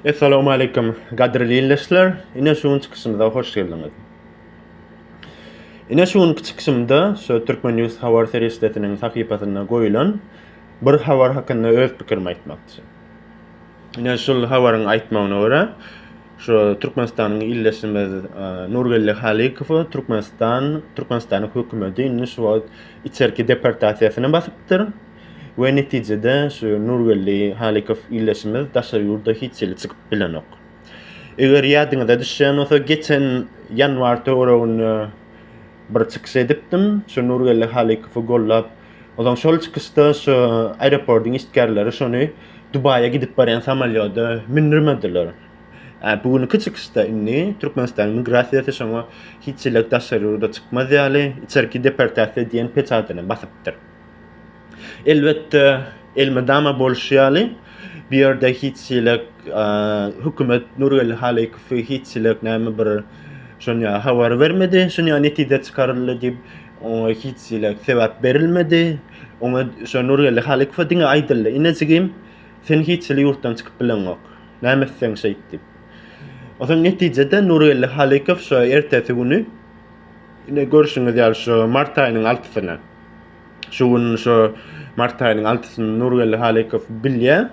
Essalamu aleýkum, gadyrly ildeşler! Ine şu gün çykyşymyza hoş geldiňiz. Ine şu günki çykyşymda şu Türkmen News habar serişdesiniň sahypasynda goýulan bir habar hakynda öz pikirimi aýtmakçy. Ine şul habaryň aýtmagyna görä, şu Türkmenistanyň ildeşimiz e, Nurgeldi Halykowy Türkmenistan, Türkmenistanyň hökümeti indi şu wagt içerki deportasiýasyna basypdyr. We netijede şu Nurgeldi Halykow ildeşimiz daşary ýurda hiç hili çykyp bilenok. Eger ýadyňyza düşýän bolsa geçen ýanwar töwereginde bir çykyş edipdim, şu Nurgeldi Halykowy gollap. Ozan şol çykyşda şu aeroportyň işgärleri şony Dubaýa gidip barýan samolýoda mündirmediler. Ä bu günki çykyşda indi Türkmenistanyň migrasiýasy şoňa hiç hili daşary ýurda çykmaz ýaly içerki deportasiýa diýen peçadyny basypdyr. Elbetde, elmydama bolşy ýaly, bu ýerde hiç hili hökümet Nurgeldi Halykowy hiç hili näme bir şonýa habar bermedi, şonýa netije çykaryldy diýip, oňa hiç hili sebäp berilmedi. Oňa şo Nurgeldi Halykowa diňe aýdyldy, Inejigim, sen hiç hili ýurtdan çykyp bileňok. Näme etseň şeýt diýip. Onsoň netijede Nurgeldi Halykow şo ertesi güni Indi görşüňiz ýaly şu mart aýynyň altysyna. Şu gün şu mart aýynyň altysyny Nurgeldi Halykow bilýär.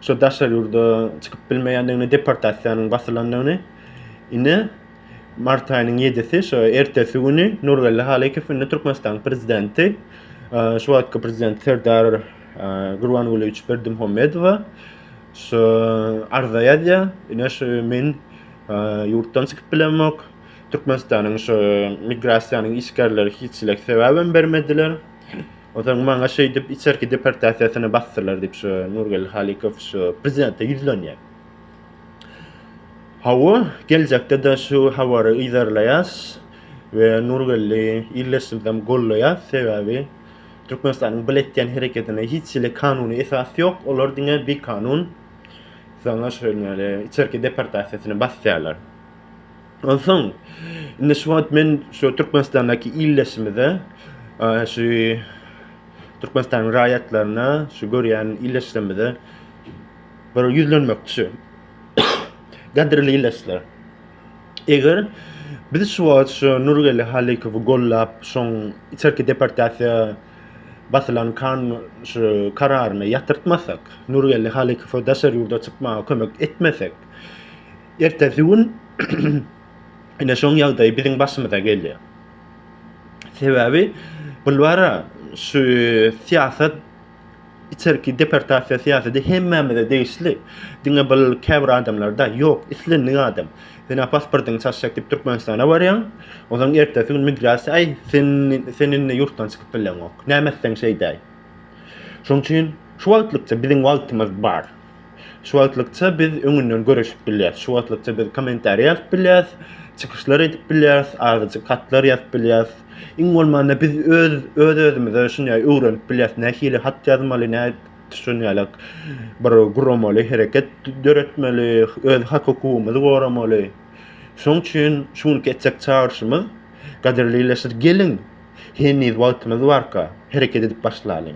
Şu daşary ýurda çykyp bilmeýändigini, deportasiýanyň basylandygyny. Indi mart aýynyň 7-si şu ertesi güni Nurgeldi Halykow indi Türkmenistanyň prezidenti şu wagtky prezident Serdar Gurbangulyýewiç Berdimuhamedowa şu arza ýazýar. Ine şu men ýurtdan çykyp bilemok. Türkmenistanyň şu migrasiýanyň işgärleri hiçlik sebäbem bermediler. Onsoň maňa şeýdip içerki deportasiýasyny basdylar diýip şu Nurgeldi Halykow şu prezidente ýüzlenýär. Hawa, geljekde-de şu habary yzarlaýas we Nurgeldi ildeşimizem goldaýas, sebäbi Türkmenistanyň bile etýän hereketine hiçhili kanuny esas ýok, olar diňe bikanun saňa şeýle içerki deportasiýasyny basýarlar. Onsoň, indi şu wagt men şu Türkmenistandaky ildeşimize, şu Türkmenistanyň raýatlaryna, şu görýän ildeşlerimize bir ýüzlenmekçi şu. Gadyrly ildeşler! Eger biz şu wagt şu Nurgeldi Halykowy gollap, şoň içerki deportasiýa basylan kan şu kararyny ýatyrtmasak, Nurgeldi Halykowa daşary ýurda çykmaga kömek etmesek, Ertesi gün ine şoň ýagdaýy biziň başymyza gelýär. Sebäbi bulwara şu syýasat içerki deportasiýa syýasaty hemmämize degişli. Diňe bul käbir adamlarda ýok, islendik adam. Sen pasportyňy çaşjak diýip Türkmenistana barýaň. Onsoň ertesi gün migrasiýa, aý, sen sen indi ýurtdan çykyp bileňok. Näme etseň şeýdäý. Şonuň üçin şu wagtlykça biziň wagtymyz bar. Şu wagtlykça biz öňünden görüşip bilýäris. Şu wagtlykça biz kommentariýa ýazyp bilýäris, çykyşlar edip bilýäris, azajyk hatlar ýazyp bilýäris. Iň bolmanda biz öz öz-özümize şunýaý öwrenip bilýäris, nähili hat ýazmaly, nä şunýalak bir guramaly hereket döretmeli, öz hak-hukugymyzy goramaly. Şonuň üçin şu günki etjek çagyryşymyz, gadyrly ildeşler, geliň! Heniz wagtymyz barka, hereket edip başlalyň.